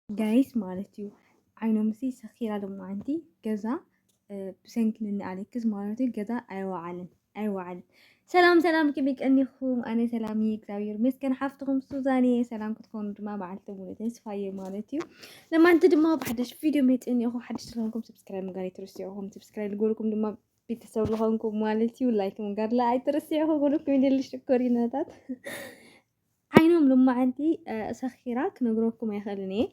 ጋይስ ማለት እዩ ዓይኖምሲ ሰኺራ ሎማዓንቲ ገዛ ብሰንኪ ንኒ ኣሌክስ ማለት እዩ ገዛ ኣይወዓልን ኣይወዓልን። ሰላም ሰላም ከመይ ቀኒኹም? ኣነ ሰላም እየ እግዚኣብሔር ይመስገን። ሓፍትኹም ሱዛን እየ። ሰላም ክትኮኑ ድማ በዓልቲ ሙሉ ተስፋ እየ ማለት እዩ። ለማንቲ ድማ ብሓደሽ ቪድዮ መፅእን እኹ ሓደሽ ዝኾንኩም ሰብስክራይብ ምግባር ኣይትርስዑኹም። ሰብስክራይብ ዝገበርኩም ድማ ቤተሰብ ዝኾንኩም ማለት እዩ ላይክ ምግባር ላ ኣይትርስዑኹ። ኩልኩም ይደሊ ሽኮሪናታት ዓይኖም ሎማዓንቲ ሰኺራ ክነግረኩም ኣይኽእልን እየ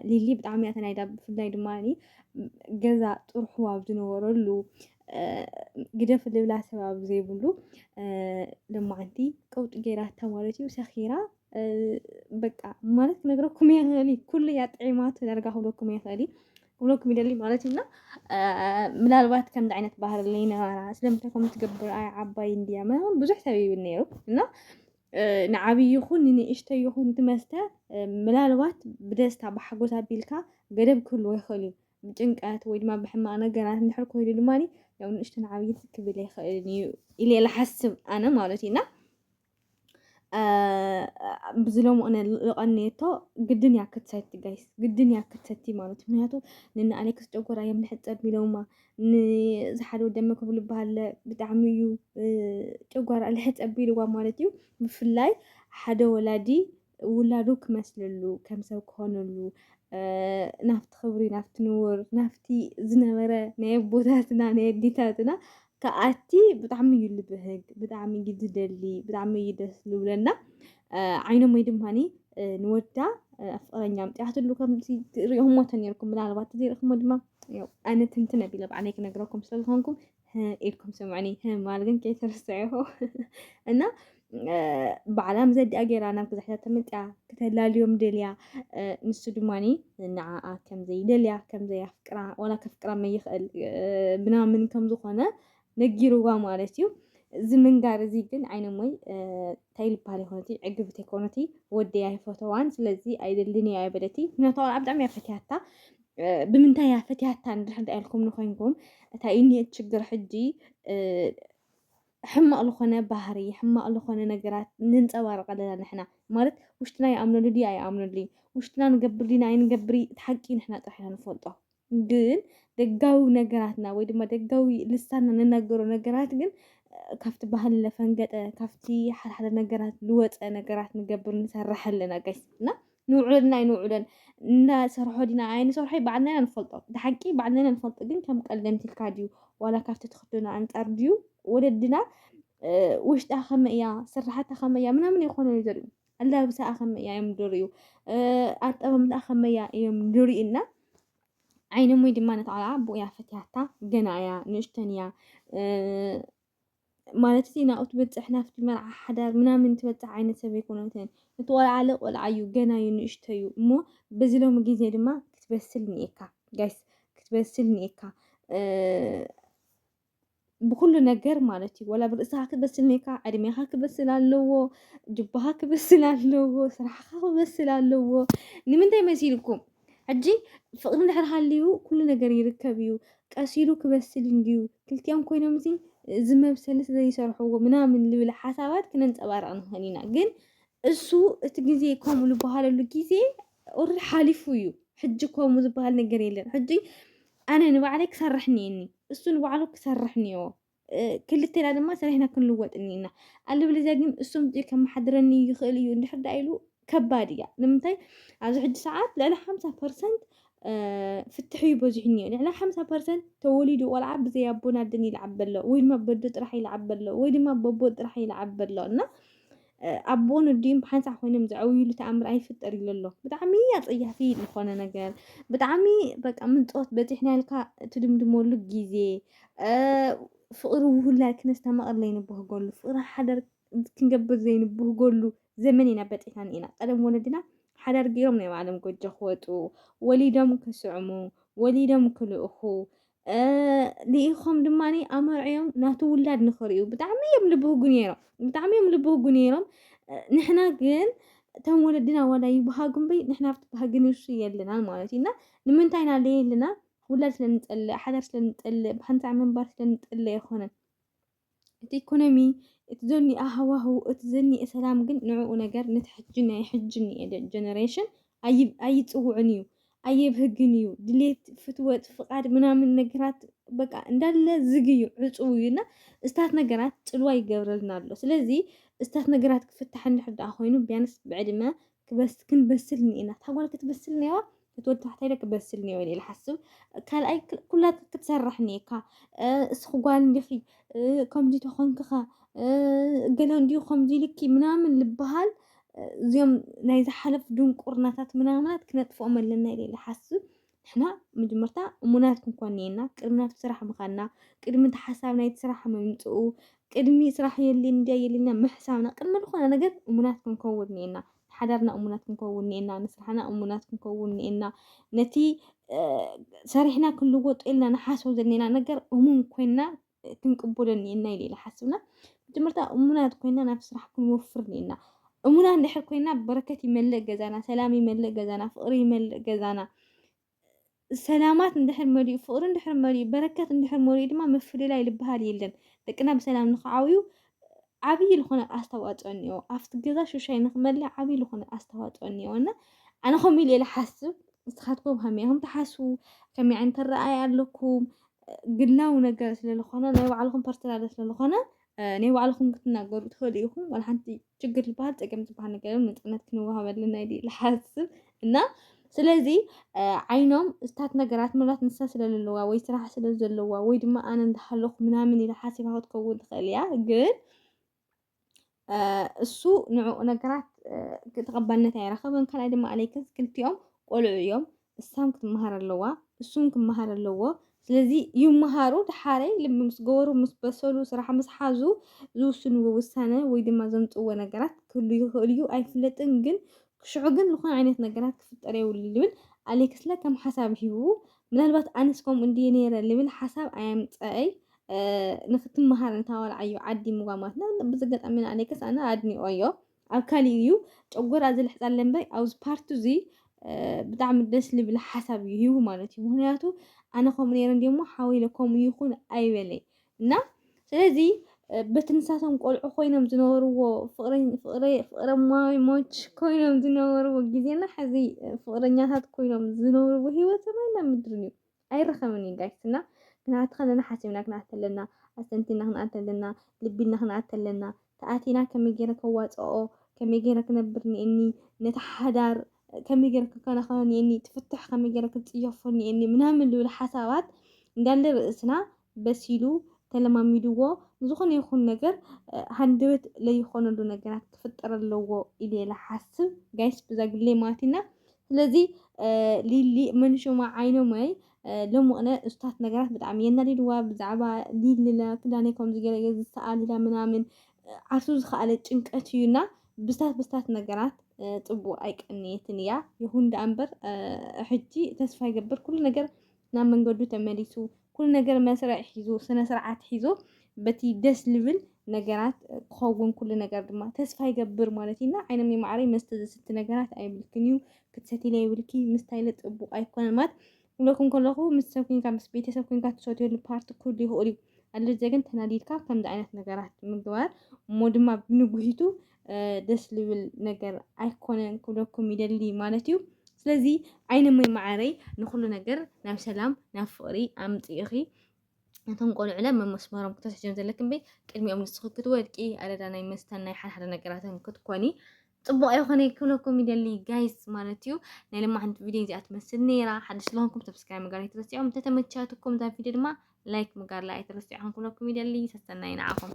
ሊሊ ብጣዕሚ እያ ተናይዳ ብፍላይ ድማ ገዛ ጥርሑ ኣብ ዝነበረሉ ግደፍ ልብላ ሰብ ኣብ ዘይብሉ ሎማዓንቲ ቀውጢ ገይራታ ማለት እዩ ሰኺራ በቃ ማለት ክነግረኩም እየ ክእሊ ኩሉ እያ ጥዒማቶ ዳርጋ ክብለኩም እየ ክእሊ ክብሎ ክሚደሊ ማለት እዩ እና ምናልባት ከምዚ ዓይነት ባህሪ ለይነበራ ስለምንታይ ከምኡ ትገብር ኣይ ዓባይ እንድያ ምናምን ብዙሕ ሰብ ይብል ነይሩ እና ንዓብ ይኹን ንንእሽተ ይኹን ትመስተ ምናልባት ብደስታ ብሓጎስ ኣቢልካ ገደብ ክህልዎ ይኽእል እዩ ብጭንቀት ወይ ድማ ብሕማቅ ነገራት እንድሕር ኮይኑ ድማ ያው ንእሽተን ዓብይት ክብል ይኽእል እዩ ኢለ ይሓስብ ኣነ ማለት እዩ እና ብዝሎም እነ ልቐንየቶ ግድን እያ ክትሰቲ ጋይስ ግድን እያ ክትሰቲ ማለት ምክንያቱ ንና ኣሌክስ ጨጎራ እዮም ንሕፀብ ኢሎማ ንዝሓደ ደመ ክብሉ በሃለ ብጣዕሚ እዩ ጨጓራ ልሕፀብ ኢልዋ ማለት እዩ ብፍላይ ሓደ ወላዲ ውላዱ ክመስልሉ ከም ሰብ ክኾነሉ ናብቲ ክብሪ ናብቲ ንውር ናብቲ ዝነበረ ናይ ኣቦታትና ናይ ኣዴታትና ከኣቲ ብጣዕሚ እዩ ልብህግ ብጣዕሚ እዩ ዝደሊ ብጣዕሚ እዩ ደስ ዝብለና ዓይኖም ወይ ድማኒ ንወዳ ፍቅረኛ ምጥያትሉ ከምዚ ሪኦሞ ተነርኩም ምናልባት ዘይርክሞ ድማ ኣነ ትንትን ኣቢለ ባዕለይ ክነግረኩም ስለዝኮንኩም ኢልኩም ስምዑኒ ማል ግን ከይትርስዕኹ እና ባዕላ ምዘዲኣ ገይራ ናብ ግዛሕታ ተመልጢያ ክተላልዮም ደልያ ንሱ ድማኒ ንዓኣ ከምዘይደልያ ከምዘይኣፍቅራ ዋላ ከፍቅራ መይኽእል ምናምን ከምዝኾነ ነጊርዋ ማለት እዩ እዚ ምንጋር እዚ ግን ዓይነሞይ እንታይ ልበሃል ይኮነቲ ዕግብቲ ይኮነቲ ወደይ ኣይፈተዋን ስለዚ ኣይደልን እያ ኣይበለቲ ምክንያቱ ብጣዕሚ እያ ፈትያታ ብምንታይ እያ ፈትያታ እንድሕር እንታይ ኢልኩም ንኮይንኩም እታይ እዩ ኒየት ችግር ሕጂ ሕማቅ ዝኾነ ባህሪ ሕማቅ ዝኾነ ነገራት ንንጸባርቕ ኣለና ንሕና ማለት ውሽጥና ይኣምነሉ ድዩ ኣይኣምነሉ ውሽጥና ንገብር ዲና ኣይንገብር እቲ ሓቂ ንሕና ጥራሕ ኢና ንፈልጦ ግን ደጋዊ ነገራትና ወይ ድማ ደጋዊ ልሳና ንናገሮ ነገራት ግን ካብቲ ባህሊ ለፈንገጠ ካብቲ ሓደሓደ ነገራት ልወፀ ነገራት ንገብር ንሰርሕ ኣለና ጋይስ እና ንውዕሎን ኣይንውዕሎን ንሰርሖ ዲና ኣይንሰርሖይ ባዕልና ኢና ንፈልጦ እቲ ሓቂ ባዕልና ኢና ንፈልጦ ግን ከም ቀልዲ ኣምሲልካ ድዩ ዋላ ካብቲ ትኽደኖ ኣንጻር ድዩ ወለድና ውሽጣ ከመይ እያ ስራሓታ ከመይ እያ ምናምን ይኾኑ እዩ ዘርእዩ ኣላብሳኣ ከመይ እያ እዮም ድርእዩ ኣጠማምታኣ ከመይ እያ እዮም ድርእዩና ዓይነ ሞይ ድማ ነቲ ቆልዓ ብኡያ ፈትያታ ገና እያ ንእሽተን እያ ማለት እቲ ናብኡ ትበጽሕ ናብቲ መርዓ ሓዳር ምናምን ትበጽሕ ዓይነት ሰብ ኣይኮነትን። እቲ ቆልዓ ኣለ ቆልዓ እዩ ገና እዩ ንእሽቶ እዩ እሞ በዚ ሎሚ ግዜ ድማ ክትበስል ኒኤካ ጋይስ ክትበስል ኒኤካ ብኩሉ ነገር ማለት እዩ ወላ ብርእስኻ ክትበስል ኒኤካ ዕድሜኻ ክበስል ኣለዎ ጅባኻ ክበስል ኣለዎ ስራሕኻ ክበስል ኣለዎ ንምንታይ መሲልኩም ሕጂ ፍቅሪ እንድሕር ሃልዩ ኩሉ ነገር ይርከብ እዩ ቀስ ኢሉ ክበስል እንድዩ ክልቲኦም ኮይኖም እዚ እዚ መብሰሊ ስለዘይሰርሕዎ ምናምን ልብል ሓሳባት ክነንጸባርቕ ንኽእል ኢና ግን እሱ እቲ ግዜ ከምኡ ዝበሃለሉ ግዜ ኦልሬዲ ሓሊፉ እዩ ሕጂ ከምኡ ዝበሃል ነገር የለን ሕጂ ኣነ ንባዕለይ ክሰርሕ እኒአኒ እሱ ንባዕሉ ክሰርሕ እኒኦ ክልቴና ድማ ሰሪሕና ክንልወጥ እኒና ኣለበለዚያ ግን እሱም እዚኦ ከመሓድረኒ ይኽእል እዩ እንድሕር ዳ ኢሉ ከባድ እያ ንምንታይ ኣብዚ ሕጂ ሰዓት ልዕሊ ሓምሳ ፐርሰንት ፍትሒ እዩ በዚሑ እኒኦ ልዕሊ ሓምሳ ፐርሰንት ተወሊዱ ቆልዓ ብዘይ ኣቦን ኣደን ይልዓብ ኣሎ ወይ ድማ በዶ ጥራሕ ይልዓብ ኣሎ ወይ ድማ በቦ ጥራሕ ይልዓብ ኣሎ እና ኣቦን ወዲን ብሓንሳእ ኮይኖም ዘዕውይሉ ተኣምር ኣይፍጠር ኢሉ ኣሎ ብጣዕሚ ኣጸያፊ ዝኾነ ነገር ብጣዕሚ በቃ ምንጾት በጺሕና ኢልካ ትድምድመሉ ግዜ ፍቕሪ ውሁላይ ክነስተማቕር ዘይንብህገሉ ፍቕሪ ሓደር ክንገብር ዘይንብህገሉ ዘመን ኢና በጺሕና ኒኢና ቀደም ወለድና ሓዳር ገይሮም ናይ ባዕሎም ጎጆ ክወጡ ወሊዶም ክስዕሙ ወሊዶም ክልእኹ ልኢኾም ድማ ኣመርዕዮም ናቱ ውላድ ንኽርእዩ ብጣዕሚ እዮም ልብህጉ ነይሮም ብጣዕሚ እዮም ልብህጉ ነይሮም ንሕና ግን እቶም ወለድና ዋላ ይብሃጉ እምበይ ንሕና ኣብቲ ባህጊ ንሱ የለናን ማለት እዩ እና ንምንታይ ኢና ለየልና ውላድ ስለንፀልእ ሓዳር ስለንፀልእ ብሓንሳዕ ምንባር ስለንፀልእ ኣይኮነን እቲ ኢኮኖሚ እቲ ዘኒኣ ሃዋህው እቲ ዘኒኤ ሰላም ግን ንዕኡ ነገር ነቲ ሕጂ ናይ ሕጂ እኒኤ ጀነሬሽን ኣይፅውዕን እዩ ኣየብህግን እዩ ድሌት ፍትወት ፍቃድ ምናምን ነገራት በቃ እንዳለ ዝግ እዩ ዕፁው እዩ እና እስታት ነገራት ፅልዋ ይገብረልና ኣሎ ስለዚ እስታት ነገራት ክፍታሕ እንድሕር ደኣ ኮይኑ ቢያንስ ብዕድመ ክንበስል እኒኤና እታ ጓል ክትበስል እኒዋ እቲ ወዲ ታሕታይ ደቂ በስል ኒዮ ኢለ ሓስብ ካልኣይ ኩላ ክትሰርሕ ኒካ እስኺ ጓል እንዲኺ ከምዚ ተኾንክኻ ገለ እንዲዩ ከምዚ ልኪ ምናምን ልበሃል እዚኦም ናይ ዝሓለፉ ድንቁርናታት ምናምናት ክነጥፍኦም ኣለና ኢለ ኢለ ሓስብ ንሕና መጀመርታ እሙናት ክንኮን እየና ቅድሚ ናብቲ ስራሕ ምኻና ቅድሚ እቲ ሓሳብ ናይቲ ስራሕ ምምፅኡ ቅድሚ ስራሕ የልን እንዲያ የልና ምሕሳብና ቅድሚ ዝኾነ ነገር እሙናት ክንከውን እየና ሓዳርና እሙናት ክንከውን እኒኤና፣ ንስራሕና እሙናት ክንከውን እኒኤና፣ ነቲ ሰሪሕና ክንልወጦ ኢልና ንሓስቦ ዘለና ነገር እሙን ኮይና ክንቅበሎ እኒኤና ኢለ ኢለ ሓስብና መጀመርታ እሙናት ኮይና ናብ ስራሕ ክንወፍር እኒኤና። እሙና እንድሕር ኮይና በረከት ይመልእ ገዛና፣ ሰላም ይመልእ ገዛና፣ ፍቅሪ ይመልእ ገዛና፣ ሰላማት እንድሕር መሊኡ ፍቕሪ እንድሕር መሊኡ በረከት እንድሕር መሊኡ ድማ ምፍልላይ ዝበሃል የለን። ደቅና ብሰላም ንክዓብዩ ዓብዪ ዝኾነ ኣስተዋፅኦ እኒኦ ኣብቲ ገዛ ሽሻይ ንክመልእ ዓብዪ ዝኾነ ኣስተዋፅኦ እኒኦ እና ኣነ ከምኡ ኢለ ሓስብ ንስኻትኩም ከመይ ኢኹም ትሓስቡ ከመይ ዓይነት ኣረኣእያ ኣለኩም ግላዊ ነገር ስለዝኾነ ናይ ባዕልኹም ፐርሰናል ስለዝኾነ ናይ ባዕልኹም ክትናገሩ ትኽእሉ ኢኹም። ዋላ ሓንቲ ችግር ዝበሃል ፀገም ዝበሃል ነገር የለን። ነፃነት ክንወሃበልና ኢለ ይሓስብ እና ስለዚ ዓይኖም እስታት ነገራት ምናልባት ንሳ ስለለለዋ ወይ ስራሕ ስለ ዘለዋ ወይ ድማ ኣነ እንዳሃለኹ ምናምን ኢላ ሓሲባ ክትከውን ትኽእል እያ ግን እሱ ንዕኡ ነገራት ተቐባልነት ኣይረኸበን። ካልኣይ ድማ ኣለይከስ ክልቲኦም ቆልዑ እዮም። እሳም ክትመሃር ኣለዋ እሱም ክመሃር ኣለዎ ስለዚ ይመሃሩ ድሓረይ ልቢ ምስ ገበሩ ምስ በሰሉ ስራሕ ምስ ሓዙ ዝውስንዎ ውሳነ ወይ ድማ ዘምፅዎ ነገራት ክህሉ ይኽእል እዩ ኣይፍለጥን ግን ክሽዑ ግን ዝኾነ ዓይነት ነገራት ክፍጠር የብሉ ልብል ኣሌክስለ ከም ሓሳብ ሂቡ ምናልባት ኣነስ ከምኡ እንድየ ነይረ ልብል ሓሳብ ኣየምፀአይ ንክትመሃር እንታወልዓዮ ዓዲ ምጓማትና ብዝገጣሚና ኣሌክስ ኣነ ኣድኒኦ እዮ ኣብ ካሊእ እዩ ጨጎራ ዝልሕፃለ እምበር ኣብዚ ፓርቲ እዚ ብጣዕሚ ደስ ልብል ሓሳብ እዩ ሂቡ ማለት እዩ ምክንያቱ ኣነ ከምኡ ነይረ እንዲ እሞ ሓወይ ኢለ ከምኡ ይኹን ኣይበለይ እና ስለዚ በቲ ንሳቶም ቆልዑ ኮይኖም ዝነበርዎ ፍቅረማሞች ኮይኖም ዝነበርዎ ግዜና ሕዚ ፍቅረኛታት ኮይኖም ዝነብርዎ ሂወት ሰማይና ምድርን እዩ ኣይረኸብን እዩ ጋይስ እና ክንኣቲ ከለና ሓሲብና ክንኣቲ ኣለና ኣስተንቲና ክንኣቲ ኣለና ልቢ ኢልና ክንኣቲ ኣለና ተኣቲና ከመይ ገይረ ከዋፅኦ ከመይ ገይረ ክነብር እኒአኒ ነቲ ሓዳር ከመይ ገይረ ክከናኸኖ እኒአኒ እቲ ፍትሕ ከመይ ገይረ ክፅየፎ እኒአኒ ምናምን ዝብል ሓሳባት እንዳለ ርእስና በሲሉ ተለማሚድዎ ንዝኾነ ይኹን ነገር ሃንደበት ለይኾነሉ ነገራት ክፍጠር ኣለዎ ኢለ ልሓስብ ጋይስ ብዛ ግለይ ማቲና ስለዚ ሊሊ መንሹማ ዓይኖመይ ሎምቕነ እስታት ነገራት ብጣዕሚ የናዲድዋ ብዛዕባ ሊሊ ክዳነይ ከምዚ ገለ ገ ዝሰኣል ኢላ ምናምን ዓርሱ ዝኸኣለ ጭንቀት እዩና ብስታት ብስታት ነገራት ፅቡቅ ኣይቀንየትን እያ ይኹን ደኣ እምበር ሕጂ ተስፋ ይገብር ኩሉ ነገር ናብ መንገዱ ተመሊሱ ኩሉ ነገር መስርዕ ሒዙ ስነ ስርዓት ሒዙ በቲ ደስ ልብል ነገራት ክኸውን ኩሉ ነገር ድማ ተስፋ ይገብር ማለት እዩ እና ዓይነም ማዕረይ መስተ ዘስቲ ነገራት ኣይብልክን እዩ ክትሰትይለ ይብልኪ ምስታይለ ጥቡቅ ኣይኮነን ማለት ክብለኩም ከለኹ ምስ ሰብ ኮንካ ምስ ቤተሰብ ኮንካ ትሰትየሉ ፓርቲ ክህሉ ይኽእል እዩ ኣለዘ ግን ተናዲድካ ከምዚ ዓይነት ነገራት ምግባር እሞ ድማ ብንጉሂቱ ደስ ልብል ነገር ኣይኮነን ክብለኩም ይደሊ ማለት እዩ ስለዚ ዓይነ ሞይ መዓረይ ንኩሉ ነገር ናብ ሰላም ናብ ፍቕሪ ኣምፅእኺ ነቶም ቆልዑለ መመስመሮም ክተስሕጀም ዘለክ እምበይ ቅድሚኦም ንስኺ ክትወድቂ ኣደዳ ናይ መስተን ናይ ሓደሓደ ነገራትን ክትኮኒ ፅቡቅ ኣይኮነ ክብለኩም ይደሊ ጋይስ ማለት እዩ ናይ ልማዓንቲ ቪድዮ እዚኣ ትመስል ነይራ ሓደ ስለሆንኩም ሰብስክራይብ ምግባር ኣይትረስዖም እንተተመቻትኩም እዛ ቪድዮ ድማ ላይክ ምግባር ኣይትረስዖም ክብለኩም ይደሊ ሰሰናይ ንዓኹም